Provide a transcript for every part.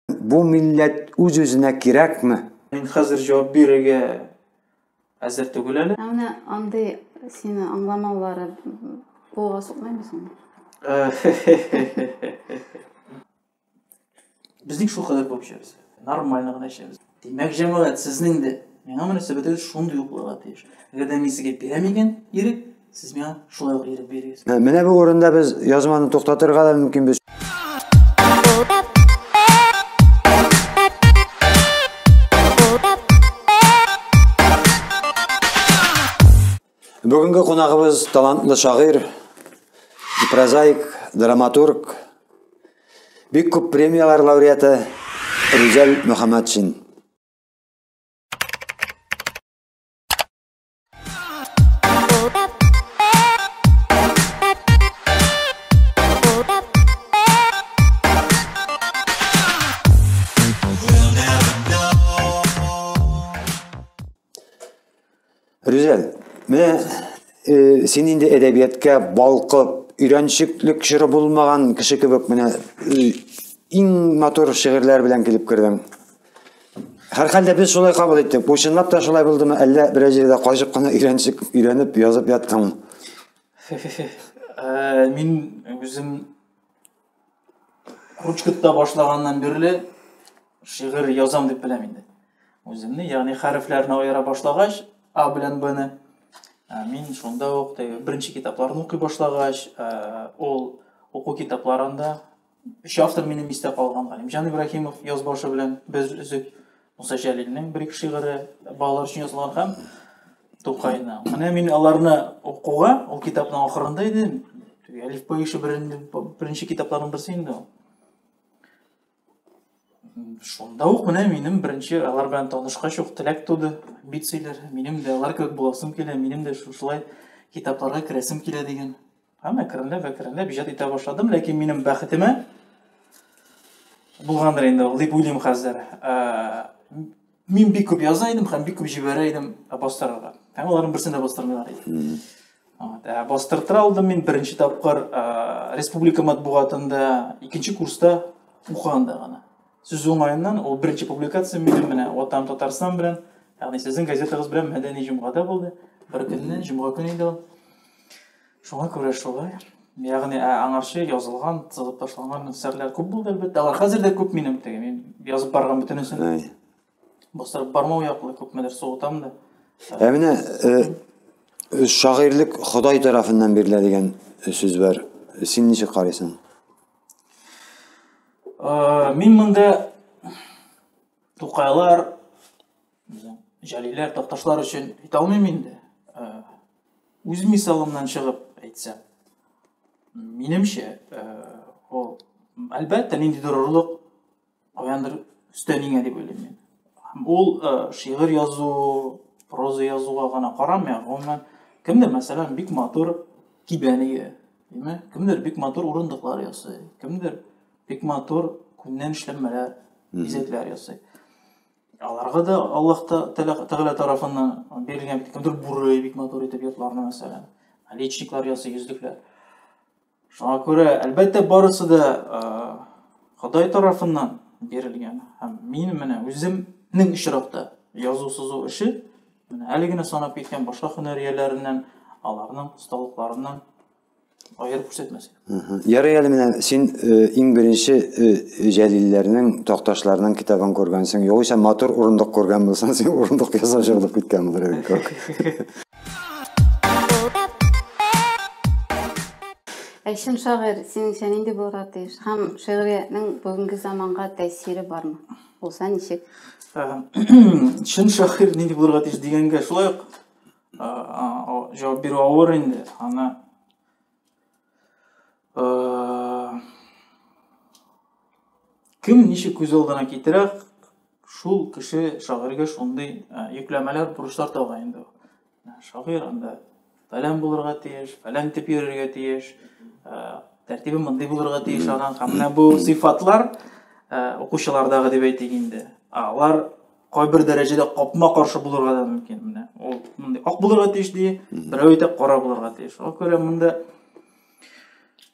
Бу милләт үз-үзенә кирәкме? Мин хәзер җавап бирергә әзер түгел әле. Ә менә андый сине аңламаулары кулга сукмыймы соң? Безнең шул кадәр булып эшләбез. Нормально гына эшләбез. Димәк, җәмәгать, сезнең дә миңа мөнәсәбәтегез шундый ук булырга тиеш. Әгәр дә мин сезгә бирәм икән ирек, сез миңа шулай ук ирек бирегез. Ә, менә бу урында без язманы туктатырга да мөмкин без. Бүгенге кунагыбыз талантлы шагыйр, прозаик, драматург, бик күп премиялар лауреаты Рүзәл Мөхәммәтшин. Рүзәл, менә э, син инде әдәбияткә балкып, өйрәнчеклек чоры булмаган кеше кебек менә э, иң матур шигырьләр белән килеп кердең. Һәрхәлдә без шулай кабул иттек. Бу чынлап та шулай булдымы, әллә берәр җирдә качып кына өйрәнчек өйрәнеп язып яттыңмы? Э, мин үзем Ручкытта башлаганнан бирле шигырь язам дип беләм инде. Үземне, ягъни хәрефләрне аера башлагач, А белән Б-ны ә, мин шунда ук теге беренче китапларны укый башлагач, ә, ул уку китапларында өч автор минем истә калган Галимҗан Ибраһимов язбашы белән без өзек Муса Җәлилнең бер-ике шигыре балалар өчен язылган һәм Тукайны. Менә мин аларны укуга, ул китапның ахырында иде, Әлиф Паиши беренче китапларның берсе инде ул. Шунда ук менә минем беренче алар белән танышкач ук теләк туды, бит сөйләр. Минем дә алар кебек буласым килә, минем дә шушылай китапларга керәсем килә дигән. Һәм әкренләп, әкренләп иҗат итә башладым, ләкин минем бәхетемә булгандыр инде ул дип уйлыйм хәзер. Ә, мин бик күп яза идем һәм бик күп җибәрә идем ә, бастырырга. Һәм аларның берсен дә бастырмыйлар иде. Ә, бастыртыра алдым мин беренче тапкыр ә, республика матбугатында икенче курста укыганда гына. Сүз уңаеннан ул беренче публикация минем менә Ватан Татарстан белән, ягъни сезнең газетагыз белән мәдәни җомгада булды. Бер көнне, җомга көне иде ул. Шуңа күрә шулай. Ягъни ә аңарчы язылган, сызып ташланган әсәрләр күп булды әлбәттә. Алар хәзер дә күп минем теге. Мин язып барган бөтенесен. Әй. Бастырып бармау яклы күпмедер сугытам да. Ә менә э, шагыйрьлек Ходай тарафыннан бирелә дигән сүз бар. Син ничек карыйсың? Э, мин монда Тукайлар Безнең җәлиләр такташлар өчен әйтә алмыйм инде. Э, үз мисалымнан чыгып әйтсәм, минемчә, э, ул әлбәттә ниндидер орлык каяндыр өстәнеңә дип уйлыйм мин. Ул э, шигырь язу, проза язуга гына карамый, гомумән кемдер, мәсәлән, бик матур кибән ия, димме? Кемдер бик матур урындыклар ясый, кемдер бик матур күннән эшләнмәләр, бизәкләр ясый. Аларга да Аллаһ Тәгалә тарафыннан бирелгән бит кемдер буры бик матур итеп йотларны мәсәлән. Личниклар ясый, йөзлекләр. Шуңа күрә, әлбәттә, барысы да Ходай тарафыннан бирелгән. Һәм мин менә үземнең очракта язу сызу эше менә әле генә санап киткән башка һөнәр ияләреннән, аларның осталыкларыннан Аерып күрсәтмәс. Ярый әле менә син э, иң беренче э, Җәлилләрнең, Такташларның китабын күргәнсең. Югыйсә матур урындык күргән булсаң, син урындык ясап җырлап киткән булыр идең күк. Әйшем шагыйрь, синеңчә нинди булырга тиеш? Һәм шигъриятнең бүгенге заманга тәэсире бармы? Булса ничек? Ә, Чын шагыйрь нинди булырга тиеш дигәнгә шулай ук жауап беру ауыр инде аны кем ничек күз алдына китерә шул кеше шагыйрьгә шундый йөкләмәләр бурычлар тагыла инде шагыйрь анда фәлән булырга тиеш фәлән итеп йөрергә тиеш тәртибе мондый булырга тиеш аның һәм менә бу сыйфатлар укучылардагы дип әйтик инде алар кайбер дәрәҗәдә капма-каршы булырга да мөмкин. Менә ул мондый ак булырга тиеш ди, берәү әйтә кара булырга тиеш. Шуңа күрә монда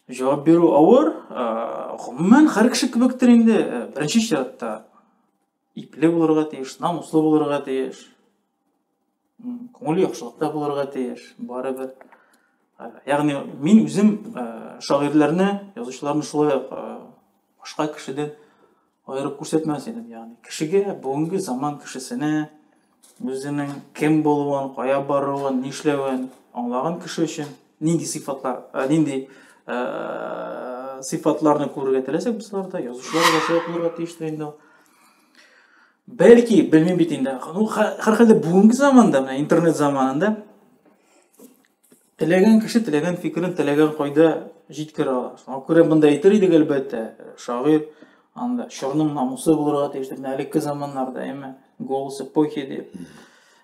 җавап бирү авыр. Гомумән, һәр кеше кебектер инде, беренче чиратта ипле булырга тиеш, намуслы булырга тиеш. күңел яхшылык та булырга тиеш барыбер э, ягъни мин үзем э, шагыйрьләрне язучыларны шулай ук э, башка кешедән аерып күрсәтмәс идем ягъни кешегә бүгенге заман кешесенә үзенең кем булуын кая баруын нишләвен аңлаган кеше өчен нинди сыйфатлар нинди сыйфатларны күрергә теләсәк без аларда язучылар да шулай булырга тиештер инде ул Бәлки, белмим бит инде. Ну, һәрхәлдә бүгенге заманда, менә интернет заманында теләгән кеше теләгән фикерен теләгән кайда җиткерә ала. Шуңа күрә монда әйтер идек әлбәттә, шагыйр анда чорның намусы булырга тиеш дип, әлеге заманнарда, әмма голос эпохи дип.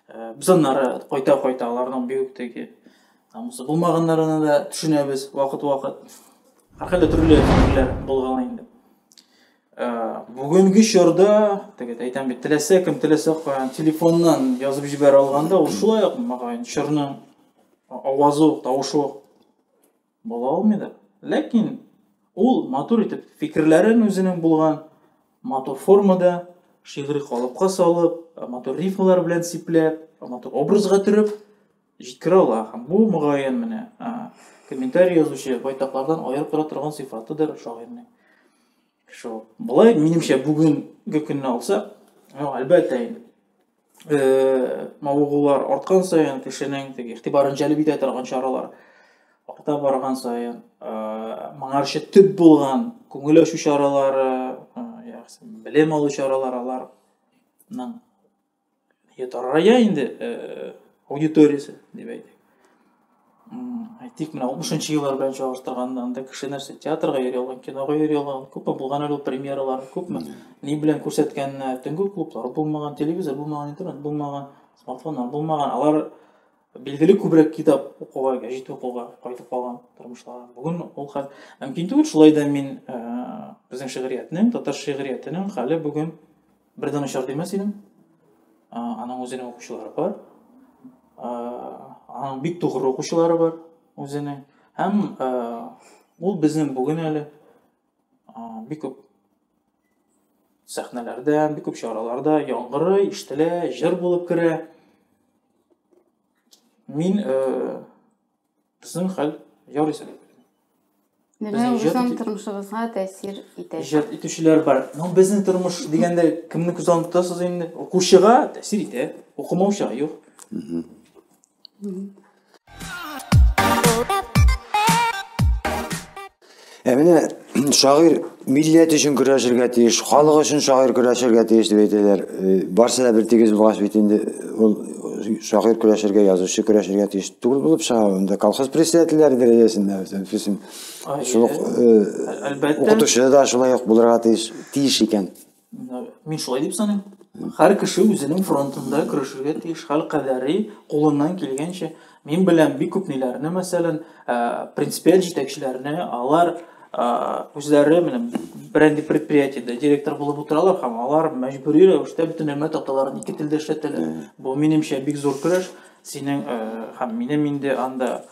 Э, без аннары кайта-кайта аларның бигүк теге намусы булмаганнарына да төшенәбез вакыт-вакыт. Һәрхәлдә төрле фикерләр булган инде. бүгенге чорда теге әйтәм бит теләсә кем теләсә каян телефоннан язып җибәрә алганда ул шулай ук мөгаен чорны авазы ук тавышы ук була алмый да ләкин ул матур итеп фикерләрен үзенең булган матур формада шигъри калыпка салып матур рифмалар белән сипләп матур образга төреп Җиткерә ала һәм бу, мөгаен, менә комментарий язучы байтаклардан аерып тора торган сыйфатыдыр шагыйрьнең. Шул. Болай, минемчә, бүгенге көнне алсак, ну, әлбәттә инде, э, мавыгулар арткан саен кешенең теге игътибарын җәлеп итә торган чаралар арта барган саен, э, моңарчы төп булган күңел ачу чаралары, э, белем алу чаралары аларның Ятарая инде э, аудиториясе, дип әйтик. Әйтик, менә 60-нчы еллар белән чагыштырганда, анда кеше нәрсә театрга йөри алган, кинога йөри алган, күпме булган әле ул премьералар, күпме ни белән күрсәткәннәр, төнге клублар булмаган, телевизор булмаган, интернет булмаган, смартфоннар булмаган, алар билгеле күбрәк китап укуга, гәҗит укуга кайтып калган тормышлары. Бүген ул хәл мөмкин түгел, шулай да мин э, безнең шигъриятнең, татар шигъриятенең хәле бүген Бер дә начар димәс идем. Аның үзенең укучылары бар. Аның бик тугры укучылары бар үзенең. Һәм ул безнең бүген әле бик күп сәхнәләрдә, бик күп чараларда яңгыры ишетелә, җыр булып керә. Мин Безнең хәл ярый сәләтле. Безнең үзем тормышыгызга тәэсир итә. Иҗат итүчеләр бар. Ну, безнең тормыш дигәндә кемне күз алдында тотасыз инде? Укучыга тәэсир итә, укымаучыга юк. Ә менә шагыйр милләт өчен көрәшергә тиеш, халык өчен шагыйр көрәшергә тиеш дип әйтәләр. Э, барсы да бер тигез булгач бит инде ул шагыйр көрәшергә, язучы көрәшергә тиеш түгел булып чыга. Анда колхоз председательләре дәрәҗәсендә үсен. Шул э, укытучы да шулай ук булырга тиеш, тиеш икән. Мин шулай дип саныйм. Һәр кеше үзенең фронтында көрәшергә тиеш, хәл кадәри кулыннан килгәнчә. Мин беләм бик күп ниләрне, мәсәлән, принципиаль җитәкчеләрне, алар үзләре менә бренди предприятиедә директор булып утыралар һәм алар мәҗбүри рәвештә бөтен нәмә таталарын ике телдә эшләтәләр. Бу минемчә бик зур көрәш. Синең һәм минем инде анда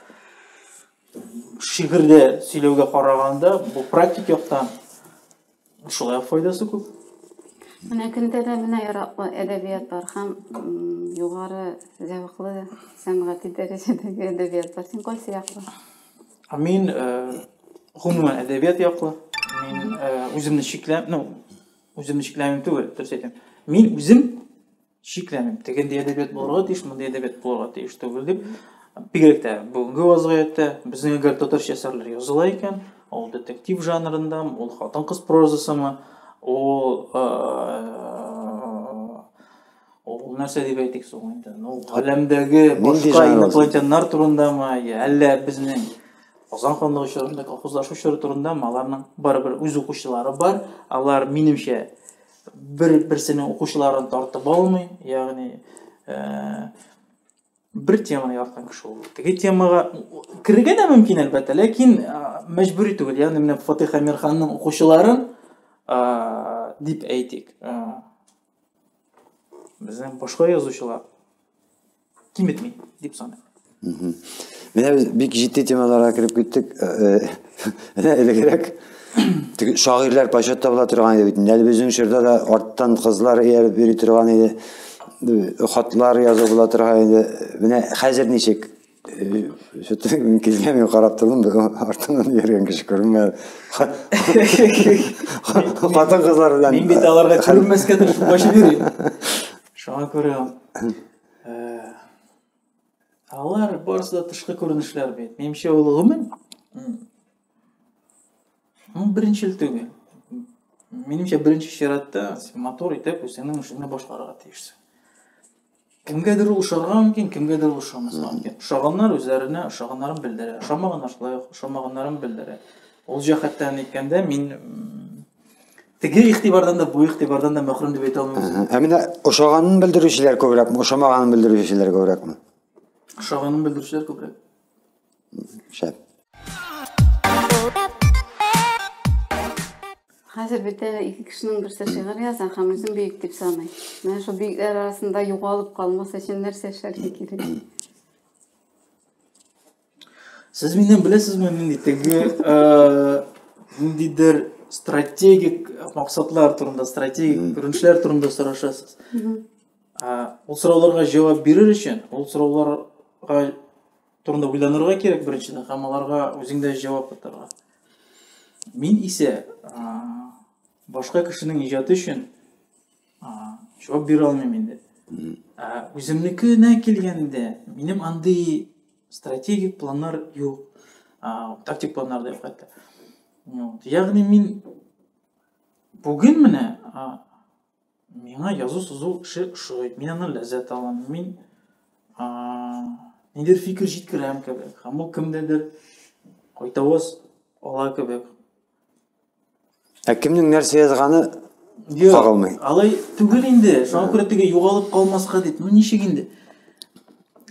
шигырьдә сөйләүгә караганда, бу практик яктан Шулай ук файдасы күп. Менә көндә дә менә яраклы әдәбиятлар һәм югары зәвыклы сәнгати дәрәҗәдәге әдәбиятлар. Син кайсы яклы? Мин гомумән әдәбият яклы. Мин үземне чикләм, ну, үземне чикләмим түгел, дөрес әйтәм. Мин үзем шикләнеп тегендәй әдәбият булырга тиеш мондый әдәбият булырга тиеш түгел дип бигрәк тә бүгенге вазгыятьтә безнең әгәр татарча әсәрләр языла икән ул детектив жанрындамы ул хатын кыз прозасымы ул ул нәрсә дип әйтик соң инде ну галәмдәге башка инопланетяннар турындамы әллә безнең Казан ханлыгы чорында колхозлашу чоры турында аларның барыбер үз укучылары бар алар минемчә бер-берсенең укучыларын тартып алмый, ягъни э, бер теманы яраткан кеше ул. Теге темага керергә дә мөмкин әлбәттә, ләкин э, мәҗбүри түгел. Ягъни менә Фатих Амирханның укучыларын э, дип әйтик. Безнең башка язучылар киметми дип саныйм менә без бик җитди темаларга кереп киттек менә элегрәк шагыйрьләр почет табыла торган иде бит инде әле безнең чорда да арттан кызлар ияреп йөри торган иде хатлар язу була торган иде менә хәзер ничек Что-то мин килгәнгә карап тордым, бер артыннан йөргән кеше күренмәде. Хатын-кызлар белән Мин бит аларга күренмәскә тырышып качып йөрим. Шуңа күрә алар барысы да тышкы күренешләр бит. Минемчә ул гомум. Ул беренчел түгел. Минемчә беренче чиратта мотор итеп үзеңнең эшеңне башларга тиешсең. Кемгәдер ул ошарга мөмкин, кемгәдер ул ошамаска мөмкин. Ошаганнар үзләренә ошаганнарын белдерә, ошамаганнар шулай ошамаганнарын белдерә. Ул җәһәттән әйткәндә мин Теге игътибардан да, бу игътибардан да мәхрүм дип әйтә алмыйм. Ә менә ошаганын белдерүчеләр күбрәкме, ошамаганын белдерүчеләр күбрәкме? Ошаганын белдерүчеләр күбрәк. Шәп. Хәзер бит әле ике кешенең берсе шигырь яза һәм үзен бөек дип саный. Менә шул бөекләр арасында югалып калмас өчен нәрсә эшләргә кирәк? Сез миннән беләсезме, нинди теге э, ниндидер стратегик максатлар турында, стратегик күренешләр турында сорашасыз. Ул сорауларга җавап бирер өчен, ул сорауларга турында уйланырга кирәк беренчедән, һәм аларга үзеңдә җавап кайтарырга. Мин исә башка кешенең иҗаты өчен җавап бирә алмыйм инде үземнекенә килгәндә минем андый стратегик планнар юк тактик планнар да юк хәтта ягъни мин бүген менә миңа язу сызу эше ошый мин аннан ләззәт алам мин нидер фикер җиткерәм кебек һәм ул кемдәдер кайтавыз ала кебек Ә кемнең нәрсә язганы Юк, кагылмый. Алай түгел инде. Шуңа күрә теге югалып калмаска дип. Ну ничек инде?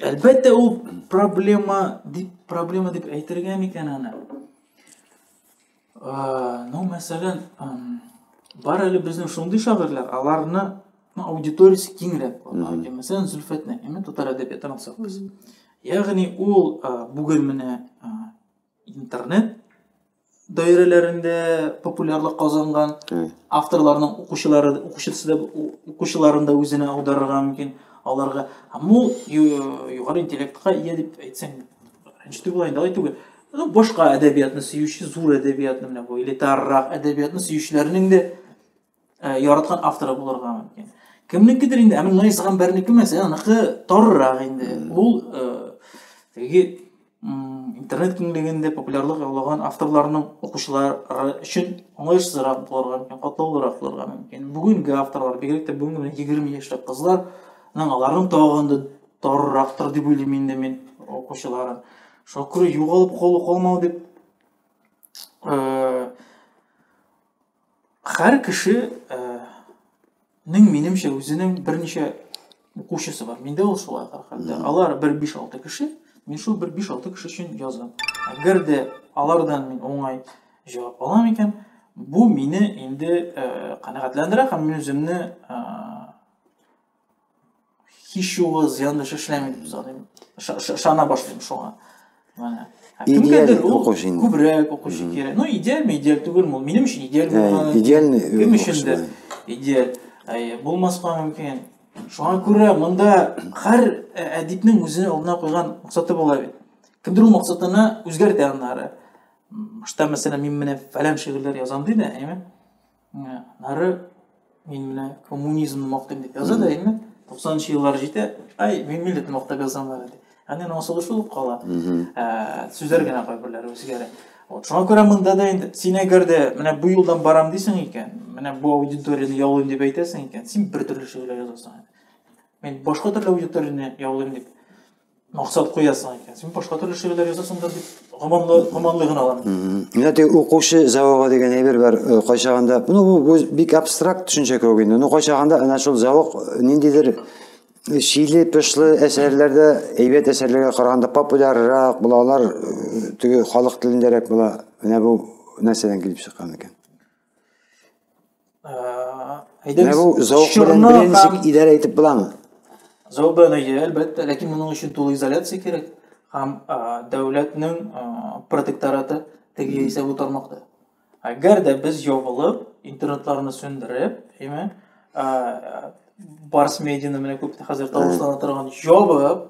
Әлбәттә ул проблема дип проблема дип әйтергә микән аны? Ну, мәсәлән, бар әле безнең шундый шагыйрьләр, аларны ну, аудиториясе киңрәк була. Мәсәлән, Зөлфәт Нәгыйме татар әдәбиятын алсак без. Ягъни ул бүген менә интернет даирәләрендә популярлык казанган авторларның укучылары укучысы да укучыларын да үзенә аударырга мөмкин аларга бу югары интеллектка ия дип әйтсәң рәнҗетү була инде алай түгел ну башка әдәбиятны сөюче зур әдәбиятны менә бу элитаррак әдәбиятны сөючеләрнең дә Ә, яраткан авторы булырга мөмкин. Кемнекедер инде, ә менә Наис Гамбәрнеке мәсәлән, аныкы торырак инде. Ул э, теге интернет киңлегендә популярлык яулаган авторларның укучылары өчен уңайсызрак булырга мөмкин, катлаулырак булырга мөмкин. Бүгенге авторлар, бигрәк тә бүгенге 20 яшьлек кызлар, аларның тагын да торыррактыр дип уйлыйм инде мин укучыларын. Шуңа күрә югалып калу калмау дип э, Хәр кеше э, нең минемчә үзенең берничә укучысы бар. Миндә ул шулай хәлдә. Алар бер 5-6 кеше, мин шул бер 5-6 кеше өчен язам. Әгәр дә алардан мин уңай җавап алам икән, бу мине инде э, канәгатьләндерә һәм мин үземне э, һич югы зыянлы эш эшләмибез без аны ышана башлыйм шуңа менә кемгәдер ул күбрәк укучы кирәк ну идеальмы идеаль түгелме ул минем өчен идеаль булган идеальный кем өчендер идеаль булмаска мөмкин шуңа күрә монда һәр әдипнең үзе алдына куйган максаты була бит кемдер ул максатына үзгәртә аннары башта мәсәлән мин менә фәлән шигырьләр язам ди дә әйме Нары мин менә коммунизмны мактыйм дип яза да әйме туксанынчы еллар җитә ай мин милләтне мактап язам әле ди әнә аның асылы шул ук кала ә, сүзләр генә кайберләре үзгәрә вот шуңа күрә монда да инде син әгәр дә менә бу юлдан барам дисең икән менә бу аудиторияне яулыйм дип әйтәсең икән син бер төрле шигырьләр язасың мен башка төрле аудиторияне яулыйм дип максат куясың икән син башка төрле шигырьләр язасың да дип гоманлы гоманлы гына алам менә теге укучы зәвыгы дигән әйбер бар э, кайчагында ну бу бик абстракт төшенчә кебек инде ну кайчагында әнә шул зәвык э, ниндидер э, чиле пышлы әсәрләрдә әйбәт әсәрләргә караганда популяррак була алар теге халык телендәрәк була менә бу нәрсәдән килеп чыккан икән Менә бу зәвык белән белән ничек идарә итеп буламы? Зәвык белән әйе, әлбәттә, ләкин моның өчен тулы изоляция кирәк һәм дәүләтнең протектораты теге яисә бу тармакта. Әгәр дә без ябылып, интернетларны сүндереп, әйме, барс медианы менә күп хәзер тавышлана торган ябып,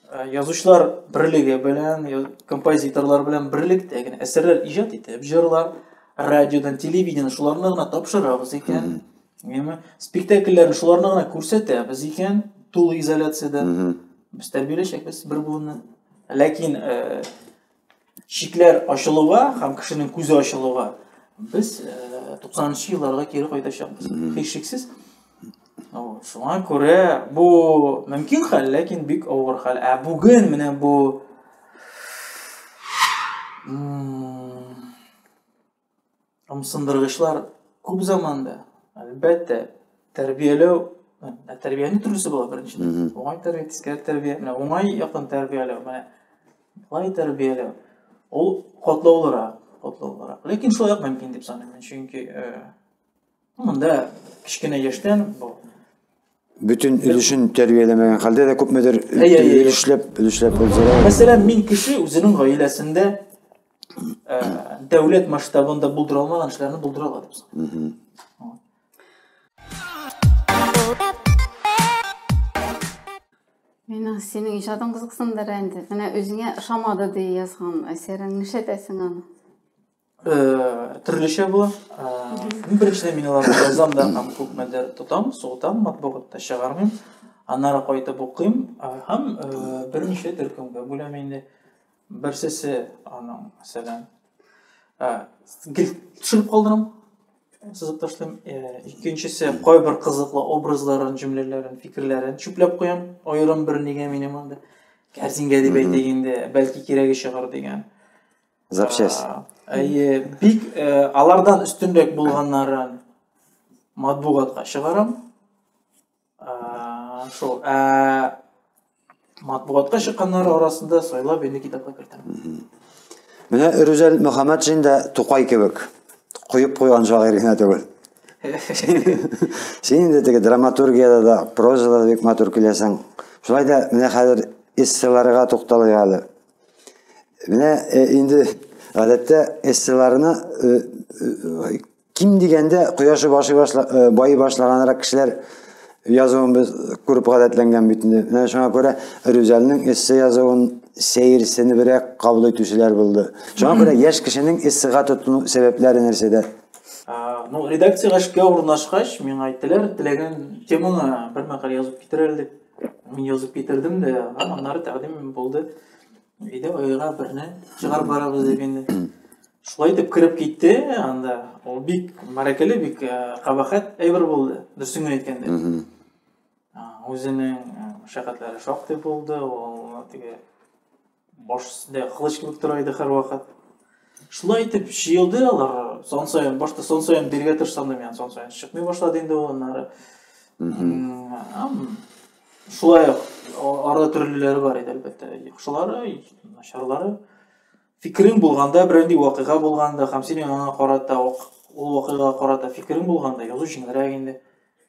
Э, язучылар берлеге белән композиторлар белән берлектә генә әсәрләр иҗат итеп җырлар радиодан телевидение шуларны гына тапшырабыз икән яме спектакльләрне шуларны гына күрсәтәбез икән тулы изоляциядә без тәрбияләячәкбез бер буынны ләкин э, Шикләр ачылуга һәм кешенең күзе ачылуга без 90-нчы елларга кире кайтачакбыз. Һичшиксез. Шуңа күрә бу мөмкин хәл, ләкин бик авыр хәл. Ә бүген менә бу ымсындыргычлар күп заманда, әлбәттә, тәрбияләү, ә тәрбиянең төрлесе була беренчедән. Уңай тәрбия, тискәре тәрбия, менә уңай яктан тәрбияләү, менә былай тәрбияләү. Ул катлаулырак, катлаулырак. Ләкин шулай ук мөмкин дип саныйм, чөнки э, Монда кечкенә яшьтән бөтен өлешен тәрбияләмәгән хәлдә дә күпмедер өлешләп, өлешләп булдыра. Мәсәлән, мин кеше үзенең гаиләсендә э, дәүләт масштабында булдыра алмаган эшләрне булдыра ала дип Мина, синең иҗатың кызыксындыра инде. Менә үзеңә ошамады ди язган әсәрең, нишләтәсең аны? төрлечә була. Беренчедән мин аларны язам да һәм күпмедер тотам, сугытам, матбугатта чыгармыйм. Аннары кайтып укыйм һәм беренче төркемгә бүләм инде. Берсесе аның, мәсәлән, гел төшереп калдырам, сызып ташлыйм. Икенчесе кайбер кызыклы образларын, җөмләләрен, фикерләрен чүпләп куям. Аерым бер нигә минем анда кәрзингә дип әйтик инде, бәлки кирәге чыгар дигән. Запчасть. Әйе, бик э, алардан өстенрәк булганнарын матбугатка чыгарам. Шул, ә матбугатка чыкканнар арасында сайлап инде китапка кертәм. Менә Рүзәл Мөхәммәтшин дә Тукай кебек куеп куйган шагыйрь генә түгел. Син инде теге драматургияда да, прозада да бик матур киләсең. Шулай да менә хәзер эсселарга тукталыйк әле. Менә э, инде гадәттә эсселарына э, э, ким дигәндә кояшы башы башла, байы башлаганрак кешеләр язуын без күреп гадәтләнгән бит инде. Менә шуңа күрә Рүзәлнең эссе язуын сәерсенебрәк кабул итүчеләр булды. Шуңа күрә яшь кешенең эссега тотыну сәбәпләре нәрсәдә? Ну, редакциягә эшкә урнашкач, миңа әйттеләр, теләгән темаңа бер мәкалә язып китер әле дип. Мин язып китердем дә, һәм аннары тәкъдим булды. Әйдә, оега берне чыгарып барабыз дип инде. Шулай итеп кереп китте анда. Ул бик мәрәкәле, бик кабахәт әйбер булды, дөресен генә әйткәндә. Үзенең шәкәтләре шактый булды, ул теге Баш өстендә кылыч кебек тора иде һәрвакыт. Шулай итеп җыелды алар. Сон саен башта сон саен биргә тырышсам да, сон саен чыкмый башлады инде ул аннары. Шулай арада төрлеләре бар иде, әлбәттә. Яхшылары, начарлары. Фикерем булганда, берәндәй вакыйга булганда, һәм синең аңа карата ул вакыйга карата фикерем булганда, язу җиңелрәк инде.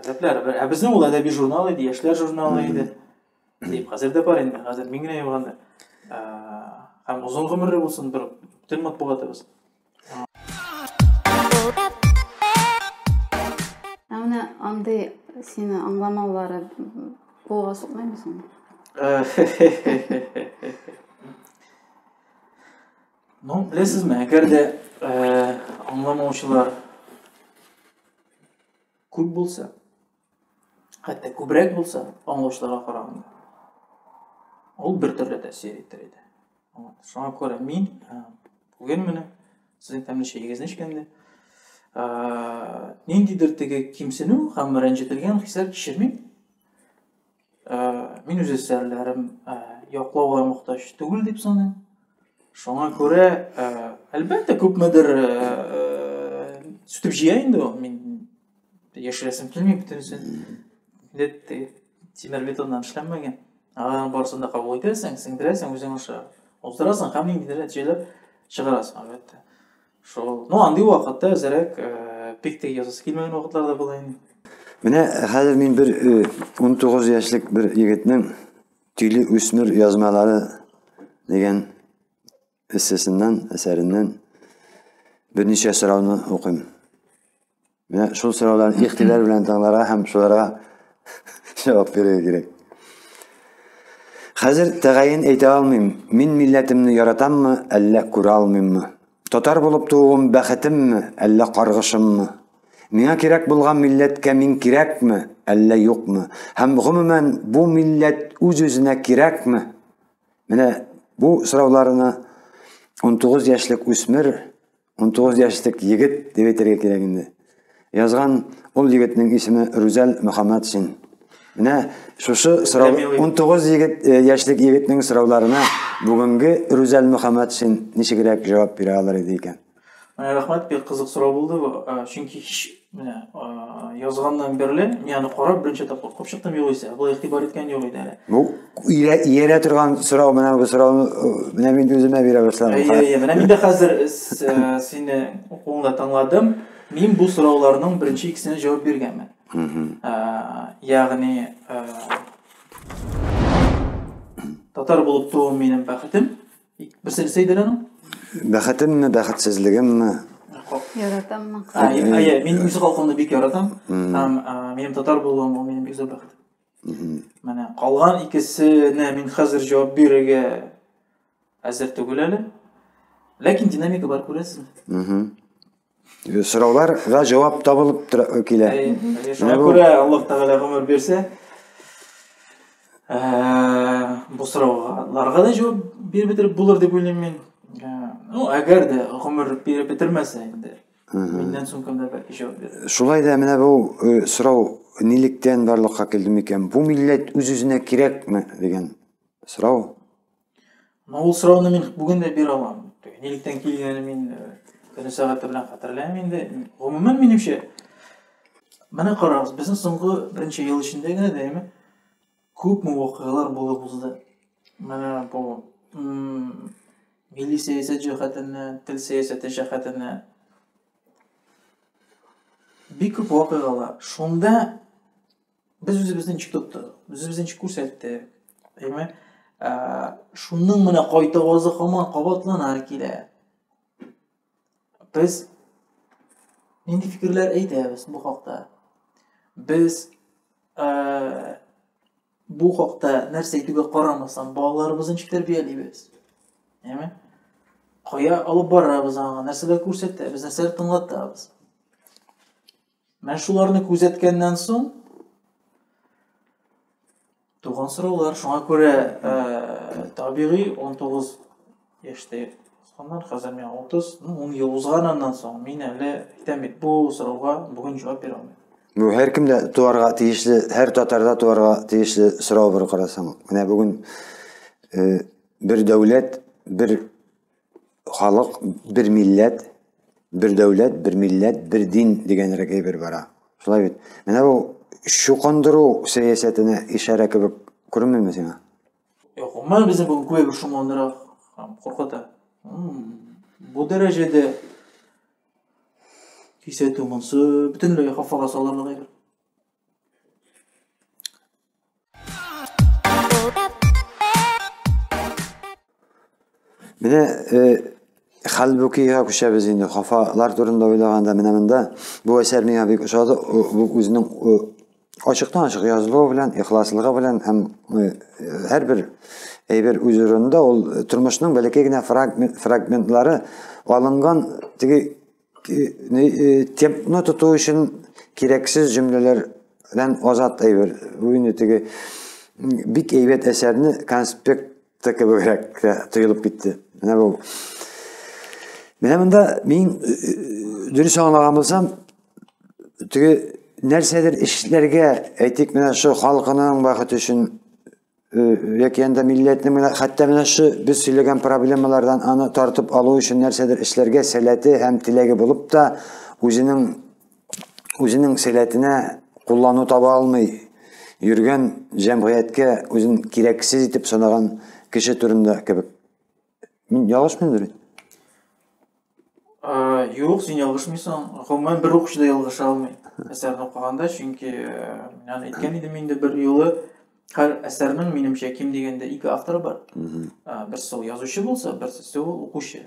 Таләпләре бер. Ә безнең ул әдәби журнал иде, яшьләр журналы иде. Дип, хәзер дә бар инде, хәзер мин генә юганда. Һәм озын гомерле булсын бер тел матбугатыбыз. Ә менә андый сине аңламаулары кулга сукмаймы соң? Ну, беләсезме, әгәр дә аңламаучылар Күп булса, хәтта күбрәк булса, аңлаучыларга караганда, ул бер төрле тәэсир итер иде. Шуңа күрә мин бүген менә сезнең тәмле чәегезне эчкәндә ниндидер теге кимсенү һәм рәнҗетелгән хисләр кичермим. мин үз әсәрләрем яклауга мохтаҗ түгел дип саныйм шуңа күрә әлбәттә күпмедер сүтеп җыя инде ул мин яшерәсем килми бөтенесен инде тимер бетоннан эшләнмәгән аларның барысын да кабул итәсең сеңдерәсең үзең аша уздырасың һәм ниндидер нәтиҗәләр чыгарасың әлбәттә Шул. Ну, андый вакытта әзерәк э, бик тә язасы килмәгән вакытлар да була инде. Менә хәзер мин бер 19 э, яшьлек бер егетнең Тиле үсмер язмалары дигән эссесеннән, әсәреннән берничә сорауны укыйм. Менә шул сорауларны ихтилар белән тыңларга һәм шуларга җавап бирергә кирәк. Хәзер тәгаен әйтә алмыйм, мин милләтемне яратаммы, әллә күрә алмыйммы? Татар булып тууым бәхетемме, әллә каргышыммы? Миңа кирәк булган милләткә мин кирәкме, әллә юкмы? Һәм гомумән бу милләт үз-үзенә кирәкме? Менә бу сорауларны 19 яшьлек үсмер 19 яшьлек егет дип әйтергә кирәк инде. Язган ул егетнең исеме Рүзәл Мөхәммәтшин. Менә шушы сорау 19 егет э, яшьлек егетнең сорауларына бүгенге Рүзәл Мөхәммәтшин ничегрәк җавап бирә алыр иде икән? Рәхмәт, бик кызык сорау булды бу. Э, чөнки һич Менә язганнан бирле мин аны карап беренче тапкыр укып чыктым югыйсә. Бу игътибар иткән юк иде әле. Бу иярә торган сорау менә бу сорауны менә мин үземә бирә башладым. Әйе, әйе. Менә мин дә хәзер сине укуыңда тыңладым. Мин бу сорауларның беренче икесенә җавап биргәнмен. Ягъни татар булып тууым минем бәхетем. Берсе нәрсә иде аның? Бәхетемме, бәхетсезлегемме? Яратаммы? Әйе, мин үз халкымны бик яратам. Һәм минем татар булуым ул минем бик зур бәхет. Менә калган икесенә мин хәзер җавап бирергә әзер түгел әле. Ләкин динамика бар күрәсең. Сорауларга җавап табылып килә. Шуңа күрә Аллаһ Тәгалә гомер бирсә, бу сорауларга да җавап биреп бетереп булыр дип уйлыйм мин. Ну, әгәр дә гомер биреп бетермәсә инде. Миннән соң кемдә бәлки җавап бирер. Шулай да менә бу сорау нилектән барлыкка килде микән? Бу милләт үз-үзенә кирәкме дигән сорау. Ана ул сорауны мин бүген дә бирә алмам. Нилектән килгәнен мин көне сәгате белән хәтерләмим инде. Гомумән минемчә менә карагыз, безнең соңгы беренче ел эчендә генә дә әйме күпме вакыйгалар булып узды. Менә бу милли сәясәт җәһәтеннән, тел сәясәте җәһәтеннән бик күп вакыйгалар. Шунда Без үзебезне ничек тоттык? Үзебезне ничек күрсәттек? Әйме? Ә, шуның менә кайта вазы хаман кабатлана килә. Без нинди фикерләр әйтәбез бу хакта? Без ә, бу хакта нәрсә әйтүгә карамастан, балаларыбызны ничек тәрбиялибез? Әйме? Кая алып барабыз аңа? Нәрсәләр күрсәтәбез? Нәрсәләр тыңлатабыз? Менә шуларны күзәткәннән соң туган сораулар. Шуңа күрә э, табигый 19 яшьтә узганнар, хәзер миңа 30, ну 10 ел узган аннан соң мин әле әйтәм бит, бу сорауга бүген җавап бирә алмыйм. Бу һәркемдә туарга тиешле, һәр татарда туарга тиешле сорау бер карасаң. Менә бүген э, бер дәүләт, бер халык бер милләт, бер дәүләт, бер милләт, бер дин дигән рәк әйбер бара. Шулай бит. Менә бу шукандыру сәясәтенә ишарә кебек күренмәме сиңа? Юк, гомумән безне бу күбәйбер шомландыра һәм куркыта. Бу дәрәҗәдә кисәтү монсы бөтенләй хафага салырлык әйбер. Менә э, Хәлбүкигә күчәбез инде. Хафалар турында уйлаганда менә монда бу әсәр миңа бик ошады. Бу үзенең ачыктан ачык язылуы белән, ихласлыгы белән һәм һәрбер әйбер үз урынында ул тормышның бәләкәй генә фрагментлары алынган теге темпны тоту өчен кирәксез җөмләләрдән азат әйбер. Бу инде теге бик әйбәт әсәрне конспектта кебегрәк тоелып китте. Менә бу. Менә монда мин дөрес аңлаган булсам, теге нәрсәдер эшләргә, әйтик, менә шул халкының бәхете өчен яки анда милләтнең менә хәтта менә шу без сөйләгән проблемалардан аны тартып алу өчен нәрсәдер эшләргә сәләте һәм теләге булып та үзенең үзенең сәләтенә куллану таба алмый йөргән җәмгыятькә үзен кирәксез итеп санаган кеше турында кебек Мин ялгышмыйм бит. Юк, син ялгышмыйсың. Гомумән бер укучы да ялгыша алмый. Әсәрне укыганда, чөнки аны әйткән идем инде бер юлы. Һәр әсәрнең минемчә ким дигәндә ике автор бар. Берсе ул язучы булса, берсе ул укучы.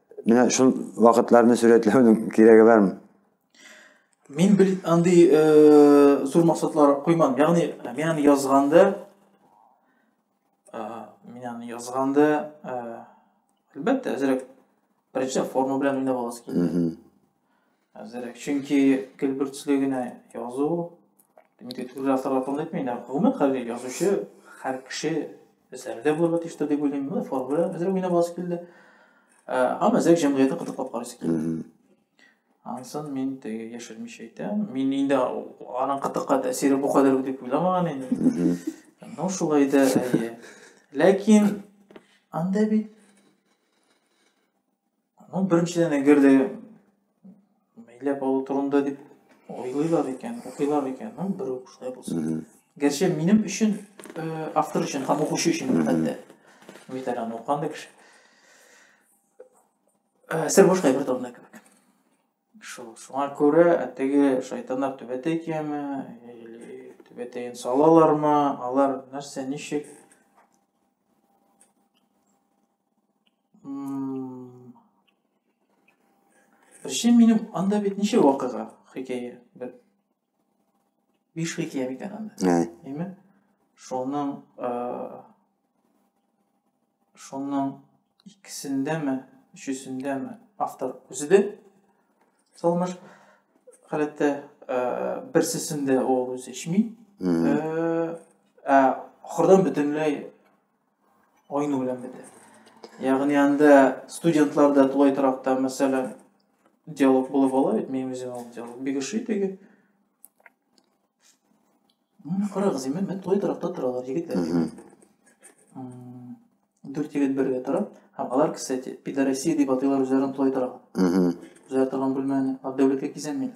Менә шул вакытларны сурәтләүнең кирәге бармы? Мин бел андый э, зур максатлар куймам. Ягъни мин аны язганда э, мин аны язганда э, әлбәттә әзрәк беренче форма белән уйнап аласы килде. Әзерәк. Чөнки көлбөртсле генә язу, инде төрле авторлар турында әйтмим, ә гомумән хәзер язучы һәр кеше әсәрдә булырга тиештер дип уйлыйм. Менә формула әзерәк уйнап аласы килде. Һәм әзерәк җәмгыятьне кытыклап карыйсы килде. Ансын мин теге яшермичә әйтәм. Мин инде аның кытыкка тәэсире бу кадәр дип уйламаган идем. Ну шулай да әйе. Ләкин анда бит Ну, беренчедән, әгәр дә мәйләп алу турында дип уйлыйлар икән, укыйлар икән, ну, бер үк шулай булсын. Гәрчә минем өчен, э, автор өчен һәм укучы өчен хәтта. Бит әле аны укыганда кеше. Э, сер бушка бер табына кебек. Шул, шуңа күрә теге шайтаннар түбәтәй кияме, или түбәтәен салалармы, алар нәрсә, ничек, Ришем минем анда бит ничә вакыйга, хикәя бер. Биш хикәя микән анда. Әйме? Шуның шуның икесендәме, өчесендәме автор үзе дә салмыш халәттә берсесендә ул үзе эчми. Ә ахырдан бөтенләй Айну белән бетә. Ягъни анда студентлар да тулай торакта, мәсәлән, диалог булып ала бит, мин үзем ул диалог бик ошый теге. Мин карагыз, мен мен тулай торакта торалар егетләр. Дүрт егет бергә тора. Һәм алар, кстати, пидорасия дип атыйлар үзләрен тулай торак. Үзләре торган бүлмәне, ә дәүләткә кизәнмиләр.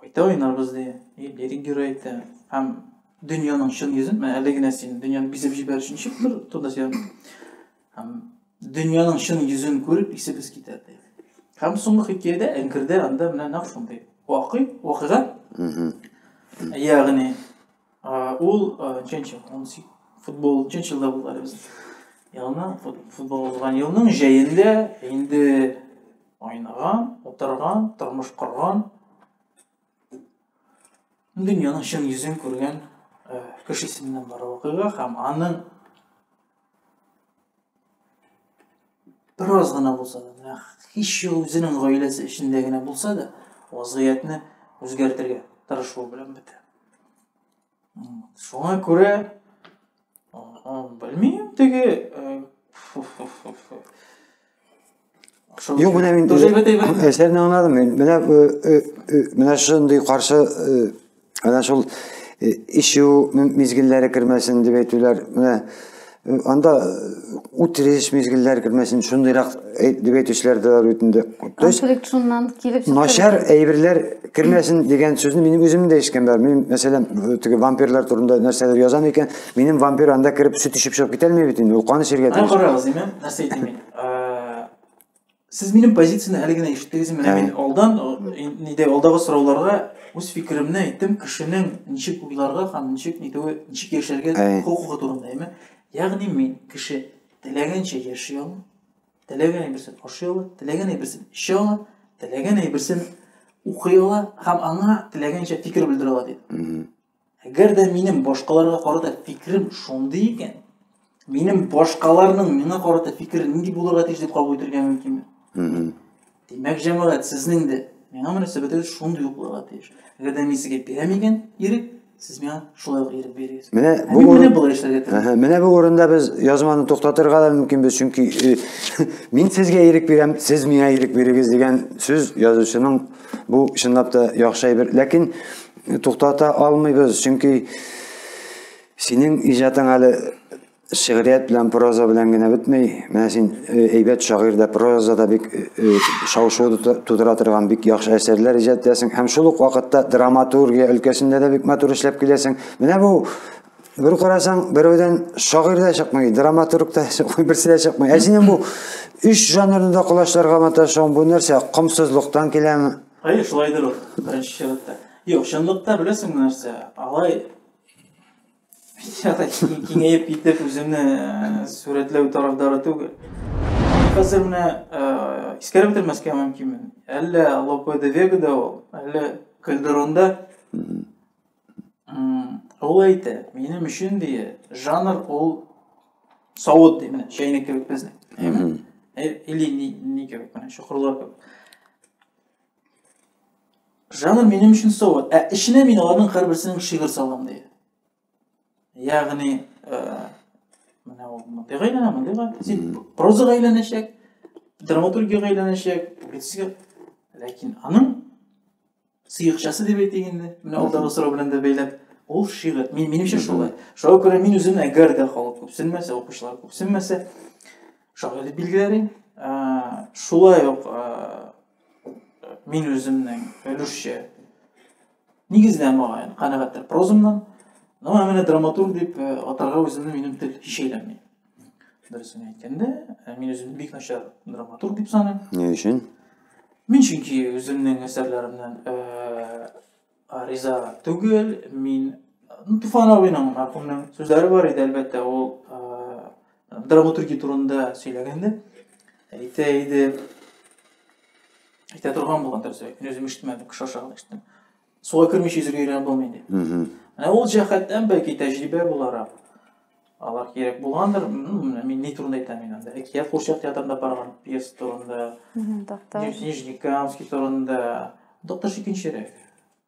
Кайта уйнарбыз, ди. И лирик герой әйтә. Һәм дөньяның чын йөзен, менә әле генә син дөньяны бизеп җибәр өчен чыгып тор, турда сөйләм. Һәм дөньяның чын йөзен күреп исебез китә, ди. Һәм соңгы хикәядә әңкердә анда менә нәкъ шундый. Вакый, вакыйга. Ягъни Ул нченче, футбол нченче елда булды әле без. Елны футбол узган елның җәендә инде айнаган, утырган, тормыш корган, дөньяның чын йөзен күргән кешесеннән бар вакыйга һәм аның Бераз гына булса да, һич юк үзенең гаиләсе эчендә генә булса да, вазгыятьне үзгәртергә тырышу белән бетә. Шуңа күрә белмим теге Юк, менә мин Тоже әйбәт, әйбәт. әсәрне аңладым мин. Менә э, э, э, менә шундый каршы э, менә шул э, ишү м- мизгелләре кермәсен дип әйтүләр. Менә э, анда э, үтереш мизгелләре кермәсен, шундыйрак әйт- дип әйтүчеләр дә бар бит инде. То есть Конфликт шуннан килеп чыкты. начар әйберләр кермәсен дигән сүзне минем үзем дә ишеткән бар. Мин мәсәлән э, теге вампирлар турында нәрсәләр язам икән, Минем вампир анда кереп сөт эчеп чыгып китә алмый бит инде. Ул кан эчәргә тиеш. Карагыз, имам, нәрсә әйтим мин? Сез минем позицияне әле генә ишеттегез, менә мин алдан нидә алдагы сорауларга үз фикеремне әйттем, кешенең ничек уйларга һәм ничек нитүе, ничек яшәргә хокукы турында, әйме? Ягъни мин кеше теләгәнчә яши ала, теләгән әйберсен ашый ала, теләгән әйберсен эчә ала, теләгән әйберсен укый ала һәм аңа теләгәнчә фикер белдерә ала дип. Әгәр дә минем башкаларга карата фикерем шундый икән, минем башкаларның миңа карата фикере нинди булырга тиеш дип кабул итәргә мөмкинме? Димәк, җәмәгать, сезнең дә миңа мөнәсәбәтегез шундый ук булырга тиеш. Әгәр дә мин сезгә бирәм икән ирек, сез миңа шулай ук ирек бирегез. Менә бу урын... менә болай эшләргә тиеш. Менә бу урында без язманы туктатырга да мөмкинбез, чөнки э, мин сезгә ирек бирәм, сез миңа ирек бирегез дигән сүз язучының бу чынлап та яхшы әйбер. Ләкин туктата алмыйбыз, чөнки синең иҗатың әле шигърият белән проза белән генә бетмей. Менә син э, әйбәт шагыйрь дә, проза да бик э, э, шау-шу тудыра торган бик яхшы әсәрләр иҗат итәсең һәм шул ук вакытта драматургия өлкәсендә дә бик матур эшләп киләсең. Менә бу бер карасаң, берәүдән шагыйрь дә чыкмый, драматург та чыкмый, берсе дә чыкмый. Ә синең бу өч жанрны да колачларга маташуың бу нәрсә? Комсызлыктан киләме? Әйе, шулайдыр ул, беренче чиратта. Юк, чынлыкта беләсеңме нәрсә? Алай печатать киңәеп китеп үземне э, сурәтләү тарафдары түгел. Хәзер менә э, искәреп бетермәскә мөмкинмен. Әллә Лопе де Вегада ул, әллә Кальдеронда Ул әйтә, минем өчен дие, жанр ул савыт дие, менә чәйнек кебек безнең. Или ни, ни кебек, менә чокырлар кебек. Жанр минем өчен савыт, ә эченә мин аларның һәрберсенең шигырь салам дие. Ягъни, менә ул мондый гайләнә, мондый гайләнә. Син проза гайләнәчәк, драматургия гайләнәчәк, публицистика. Ләкин аның Сыекчасы дип әйтик инде, менә алдагы сорау белән дә бәйләп, ул шигырь. Мин минемчә шулай. Шуңа күрә мин үземне әгәр дә халык күпсенмәсә, укучылар күпсенмәсә, шагыйрь дип билгеләрим. Шулай ук мин үземнең өлешчә нигездә мага канәгатьтер прозамнан. Ну, ә менә драматург дип атарга үземне минем тел һич әйләнми. Дөресен әйткәндә, ә, мин үземне бик начар драматург дип саныйм. Ни өчен? Мин чөнки үземнең әсәрләремнән ә, а, риза түгел. Мин ну, Туфан абыйның, мархумның сүзләре бар иде, әлбәттә, ул ә, драматургия турында сөйләгәндә. Әйтә иде. Әйтә торган булган дөресрәк. Мин үзем ишетмәдем, кеше аша гына ишеттем. Суга кермичә йөзергә өйрәнеп булмый инде. Ә ул җәһәттән бәлки тәҗрибә буларак алар кирәк булгандыр. Мин ни турында әйтәм мин анда? Әкият курчак театрында барган пьеса турында. Доктор. Нижний Камский турында. Доктор икенчерәк.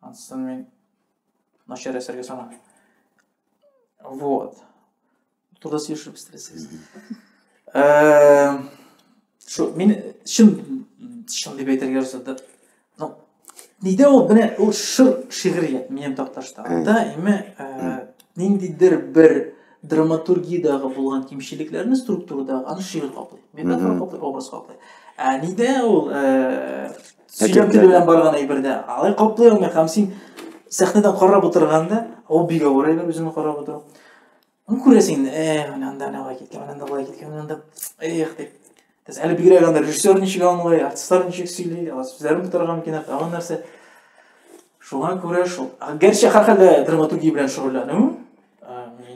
Ансын мин начар әсәргә санамыйм. Вот. Турда сөйләшеп истерәсез. Э, Шу, мин чын чын дип әйтергә рөхсәт итә. Ну, нидә ул менә ул шыр шигърият минем такташта. Да, име э, ниндидер бер драматургиядәге булган кимчелекләрне структурада аны шигырь каплый. Метафора каплый, образ каплый. Ә нидә ул э, сөйләм теле белән барган әйбердә? Алай каплый алмый һәм син сәхнәдән карап утырганда, ул бик авыр әйбер үземне карап утыру. Ну, күрәсең инде, э, менә анда ана болай киткән, менә анда болай киткән, менә анда, эх, дип. Без әле бигрәк анда режиссер ничек аңлый, артистлар ничек сөйли, алар сүзләрен тутырган микән, тагын нәрсә. Шуңа күрә шул. Гәрчә һәрхәлдә драматургия белән шөгыльләнү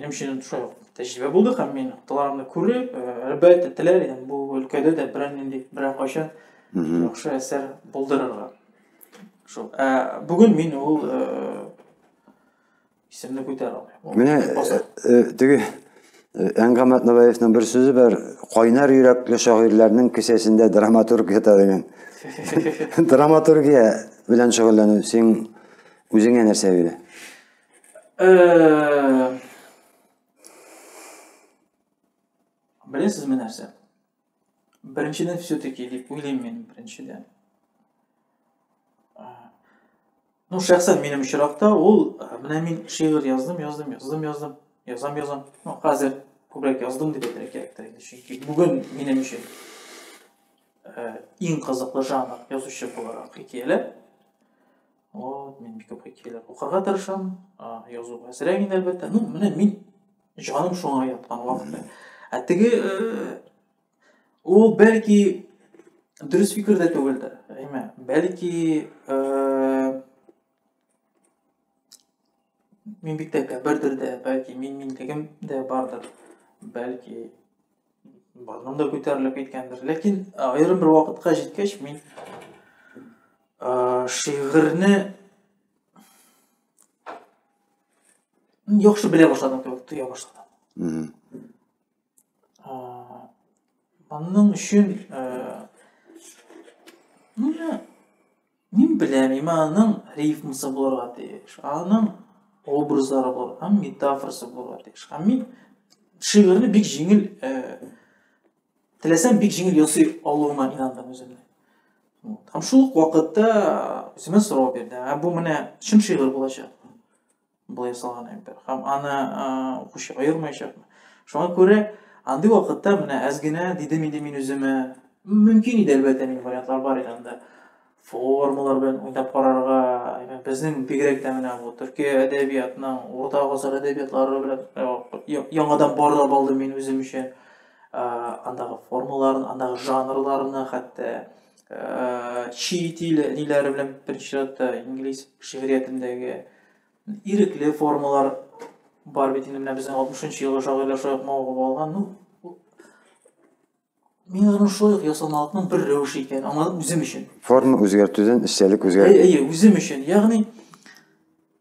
минем өчен шулай ук тәҗрибә булды һәм мин аталарымны күреп, әлбәттә, теләр идем бу өлкәдә дә берәр нинди берәр кайчан яхшы әсәр булдырырга. Шул. Ә бүген мин ул Исемне күтәр алмыйм. Менә э, э, теге э, Әнгам Атнабаевның бер сүзе бар, кайнар йөрәкле шагыйрьләрнең кесәсендә драматург ята дигән. Драматургия белән шөгыльләнү син үзеңә нәрсә бирә? Белесезме нәрсә? Беренчедән все-таки дип уйлыйм мин беренчедән. Ну, шәхсән минем очракта ул, менә мин шигырь яздым, яздым, яздым, яздым, язам, язам. Ну, хәзер күбрәк яздым дип әйтергә кирәктер инде, чөнки бүген минем өчен иң кызыклы жанр язучы буларак хикәяләр. Вот, мин бик күп хикәяләр укырга тырышам, язу әзрәк инде әлбәттә. Ну, менә мин җаным шуңа яткан вакытта. Ә теге э, ул бәлки дөрес фикер дә түгелдер. Әйме, бәлки э, мин бик тә кәбердер дә, бәлки мин минлегем дә бардыр. Бәлки Барның да күтәрелеп киткәндер. Ләкин аерым бер вакытка җиткәч мин шигырьне яхшы белә башладым кебек тоя башладым. Аның өчен Мин беләм, имә аның рифмасы булырга тиеш, аның образлары булыр, һәм метафорасы булырга тиеш. Һәм мин шигырьне бик җиңел, э, теләсәм бик җиңел ясый алуыма инандым үземне. Вот. Һәм шул вакытта үземә сорау бирде, ә бу менә чын шигырь булачак. Болай ясалган әйбер. Һәм аны укучы аермаячакмы? Шуңа күрә андый вакытта менә әз генә дидем инде мин үземә. Мөмкин иде әлбәттә мин вариантлар бар иде анда. Формалар белән уйнап карарга, безнең бигрәк тә менә бу төрки әдәбиятның урта гасыр әдәбиятлары белән э, яңадан барлап алдым мин үзем өчен. Э, андагы формаларын, андагы жанрларны хәтта э, чит ил ниләре белән беренче чиратта инглиз шигъриятендәге ирекле формалар бар бит инде менә безнең алтмышынчы елгы шагыйрьләр шулай ук мавыгып алган ну мин аның шулай ук ясалмалыкның бер рәвеше икәнен аңладым үзем өчен форма үзгәртүдән эчтәлек үзгәртү әйе үзем өчен ягъни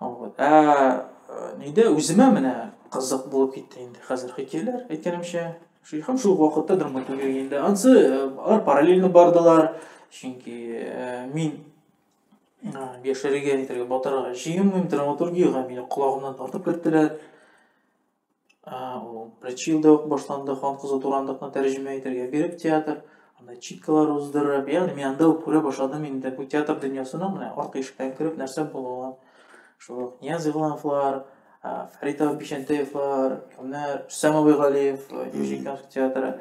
Вот. Ә э, нидә үземә менә кызык булып китте инде хәзер хикәяләр әйткәнемчә. Шул һәм шул вакытта драматургия инде. Ансы э, алар параллельно бардылар. Чөнки э, мин яшәргә нитәргә батырга җыенмыйм, драматургиягә мине колагымнан тартып керттеләр. А, ул Прачилда ук башланды, хан кызы Турандыкны тәрҗемә итәргә биреп театр, анда читкалар уздырып, ягъни мин анда ук күрә башладым инде бу театр дөньясының менә арткы ишектән кереп нәрсә булуын. Шул ук Нияз Игълановлар, Фәрит Бишәнтәевлар, кемнәр, Рөстәм Абыйгалиев, Нижникамск театры.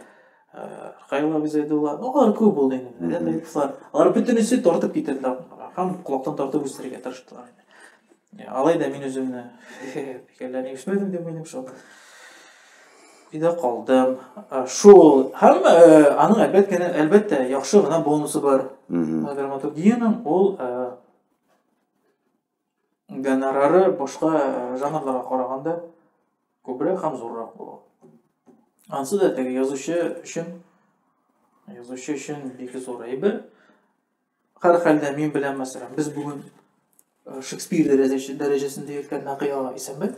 Кайла Гүзәйдулла, ну, алар күп булды инде. Рәдәй кызлар. Алар бөтенесе тартып китерде һәм колактан тартып үстерергә тырыштылар инде. Алай да мин үземне фикерләрне ишетмәдем дип уйлыйм шул. Өйдә калдым. Шул һәм аның әлбәттә, әлбәттә, яхшы гына бонусы бар. Драматургиянең ул гонорары башка э, жанрларга караганда күбрәк һәм зуррак була. Ансы да теге язучы өчен язучы өчен бик зур әйбер. Һәр хәлдә мин белән мәсәлән, без бүген э, Шекспир дәрәҗәсендә йөрткән Нәкый ага исәнбәт.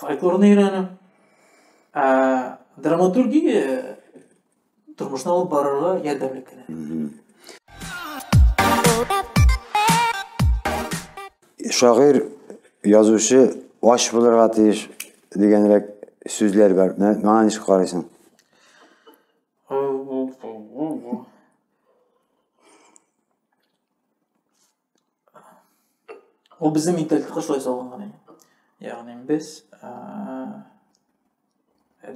фольклорны өйрәнү ә, драматургия тормышны алып барырга ярдәмле кенә шагыйр язучы ач булырга тиеш дигәнрәк сүзләр бар миңа ничек карыйсың Ул безнең менталитетка шулай салынган иде. Ягъни без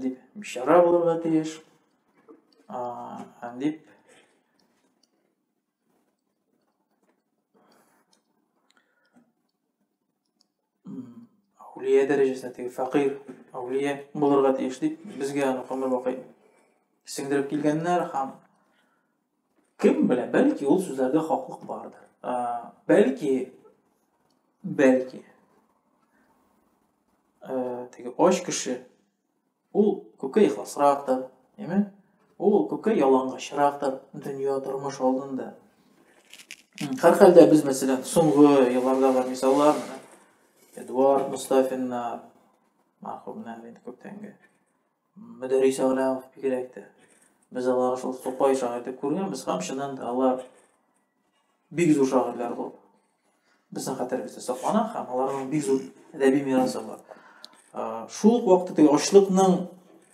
дип бишара булырга тиеш. Дип әүлия дәрәҗәсенә теге фәкыйр әүлия булырга тиеш дип безгә аны гомер бакый сеңдереп килгәннәр һәм кем белә бәлки ул сүзләрдә хаклык бардыр ә, бәлки бәлки ә, теге ач кеше Ул күпкә ихласрактыр, әйме? Ул күпкә ялангачлырактыр дөнья, тормыш алдында. Һәрхәлдә без, мәсәлән, соңгы еллардагы мисаллар менә Эдуард Мустафиннар, мәрхүмнәр инде күптәнге. Мөдәрис Әгъләмов бигрәк тә. Без аларны шул Тукай шагыйрь итеп күргәнбез һәм чыннан да алар Бик зур шагыйрьләр бу. Безнең хәтеребездә саклана һәм аларның бик зур әдәби мирасы бар. Шул ук вакытта теге ачлыкның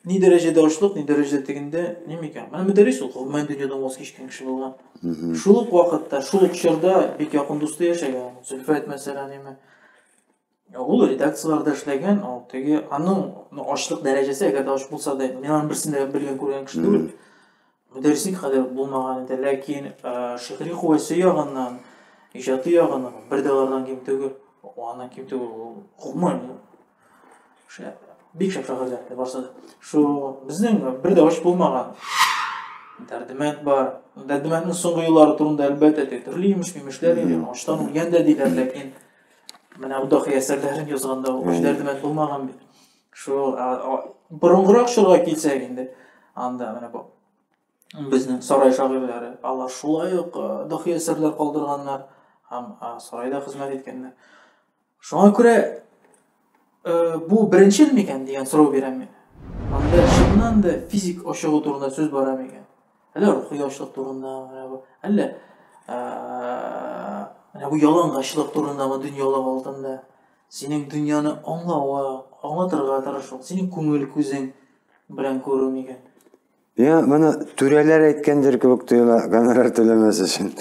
ни дәрәҗәдә ачлык, ни дәрәҗәдә тегендә, ни микән. Менә мөдәррис ул, гомумән дөньядан ваз кичкән кеше булган. Шул ук вакытта, шул ук чорда бик якын дусты яшәгән. Зөлфәт мәсәлән, яме. Ул редакцияләрдә эшләгән, ул теге аның ачлык дәрәҗәсе, әгәр дә ач булса да, мин аның берсен дә белгән күргән кеше түгел. Мөдәррислек хәле булмаган иде, ләкин шигъри куәсе ягыннан, иҗаты ягыннан бер дә алардан ким түгел. Аннан ким түгел. Гомумән бик шәп шагыйрьләр барсы да. Шул безнең бер дә ач булмаган Дәрдемәнд бар. Дәрдемәнднең соңгы еллары турында әлбәттә төрле имеш-мимешләр, аштан үлгән дә диләр, ләкин Менә Удахи әсәрләрен язганда ул Җдәрдемәт булмаган бит. Шул борынгырак чорга килсәк инде, анда менә бу безнең сарай шагыйрьләре, алар шулай ук дохи әсәрләр калдырганнар һәм сарайда хезмәт иткәннәр. Шуңа күрә Бу беренчел микән дигән сорау бирәм мин. Анда чыннан да физик ашыгу турында сүз бара микән? Әллә рухи ачлык турында, әллә менә бу ялангачлык турындагы дөньялык алтында синең дөньяны аңлауга, аңлатырга тырышу, синең күңел күзең белән күрү микән? Я моны түрәләр әйткәндер кебек тоела, гонорар түләмәс өчен.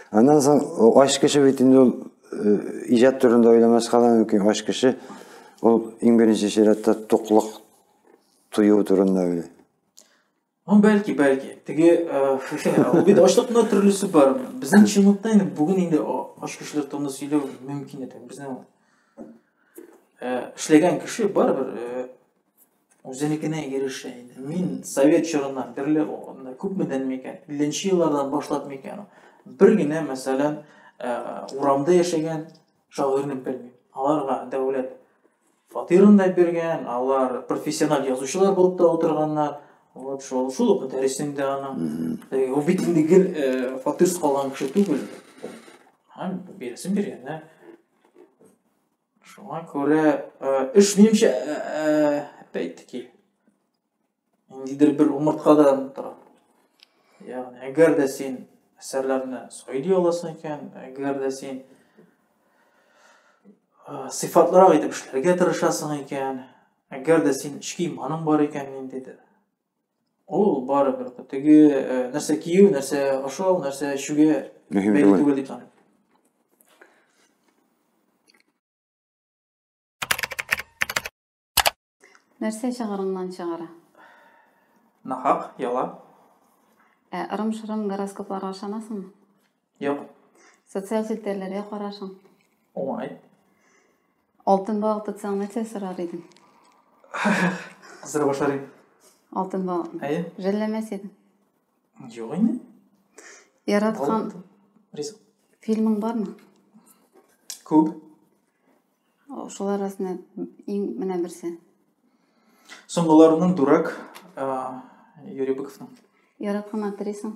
Аннан соң ач кеше бит инде ул э, иҗат турында уйламаска да мөмкин. Ач кеше ул иң беренче чиратта туклык тою турында уйлый. Ну, бәлки, бәлки. Теге, э, бит ачлыкны төрлесе бар. Безнең чынлыкта инде бүген инде ач кешеләр турында сөйләү мөмкин иде. Безнең э, эшләгән кеше барыбер үзенекенә ирешә инде. Мин совет чорыннан бирле күпмедән микән, 50 еллардан башлап микән, бер генә, мәсәлән, э, урамда яшәгән шагыйрьне белмим. Аларга дәүләт фатирын да биргән, алар профессиональ язучылар булып та утырганнар. Вот шул шул ук дәресен дә аның. Ул бит инде гел э, фатирсыз калган кеше түгел. Һәм бирсен биргәннәр. Шуңа күрә эш минемчә әйтеки ниндидер бер умырткадан тора. Ягъни әгәр дә син әсәрләрне сайдый аласың икән, әгәр дә син сыйфатлырак итеп эшләргә тырышасың икән, әгәр дә син эчке иманың бар икән ниндидер, Ул барыбер теге э, нәрсә кию, нәрсә ашау, нәрсә эчүгә Мөһим бәйле түгел. түгел дип саныйм. Нәрсә чыгарыңнан чыгара? Нахак, яла. Ә ырым-шырым гороскопларга ышанасыңмы? Юк. Социаль челтәрләргә карашың. Уңай. Алтын балык тотсаң, нәрсә сорар идең? Кыздыра башлар идем. Алтын балыкны. Әйе. Жәлләмәс идең. Юк инде. Яраткан ризык. Фильмың бармы? Күп. Шулар арасында иң менә берсе. Соңгыларының дурак Юрий Быковның. Яраткан актрисаң?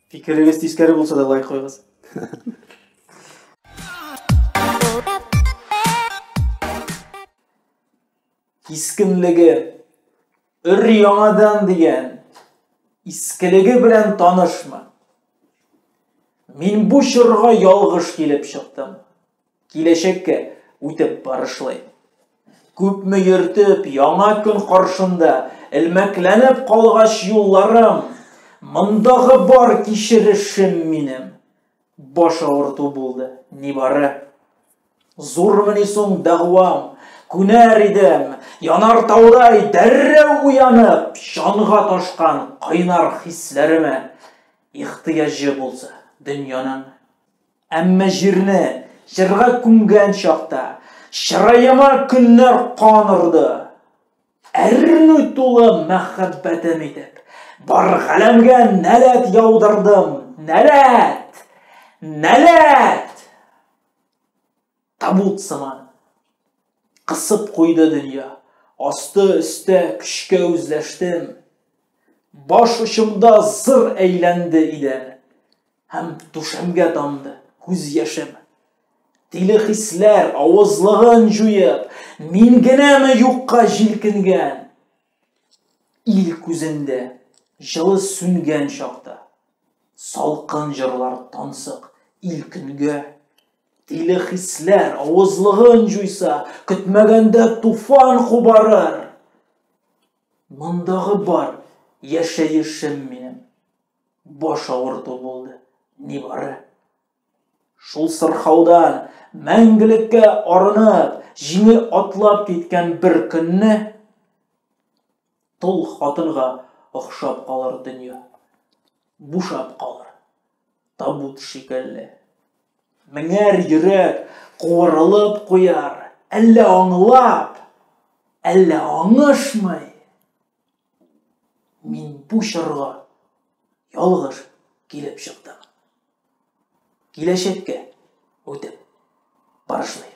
Фикерегез тискәре булса да лайк куйгыз. Кискенлеге өр яңадан дигән искелеге белән танышмы? Мин бу чорга ялгыш килеп чыктым. Киләчәккә үтеп барышлый. Күпме йөртеп, яңа көн каршында, элмәкләнеп калгач юлларым, мондагы бар кичерешем минем. Баш авырту булды, нибары. Зурмыни соң дәгъвам, күнәр идем, янар таудай дәррәү уянып, чанга ташкан кайнар хисләремә. Ихтыяҗы булса, дөньяның Әмма җирне җырга күмгән чакта чыраема көннәр кан орды. Әрнү тулы мәхәббәтем итеп, бар галәмгә нәләт яудырдым, нәләт! Нәләт! Табут сыман. Кысып куйды дөнья. Асты-өстә көчкә үзләштем. Баш очымда зыр әйләнде идән. Һәм түшәмгә тамды күз яшем. Тиле хисләр авызлыгын җуеп, мин генәме юкка җилкенгән? Ил күзендә җылы сүнгән чакта, салкын җырлар тансык ил көнгә. Тиле хисләр авызлыгын җуйса, көтмәгәндә туфан кубарыр. Мондагы бар яшәешем минем. Баш авырту булды, нибары. Шул сырхаудан мәңгелеккә арынып, җиңел атлап киткән бер көнне тол хатынга охшап калыр дөнья. Бушап калыр. табут шикелле. Меңәр йөрәк куырылып куяр, әллә аңлап, әллә аңышмый. Мин бу чорга ялгыш килеп чыктым. Киләчәккә үтеп барышлыйм.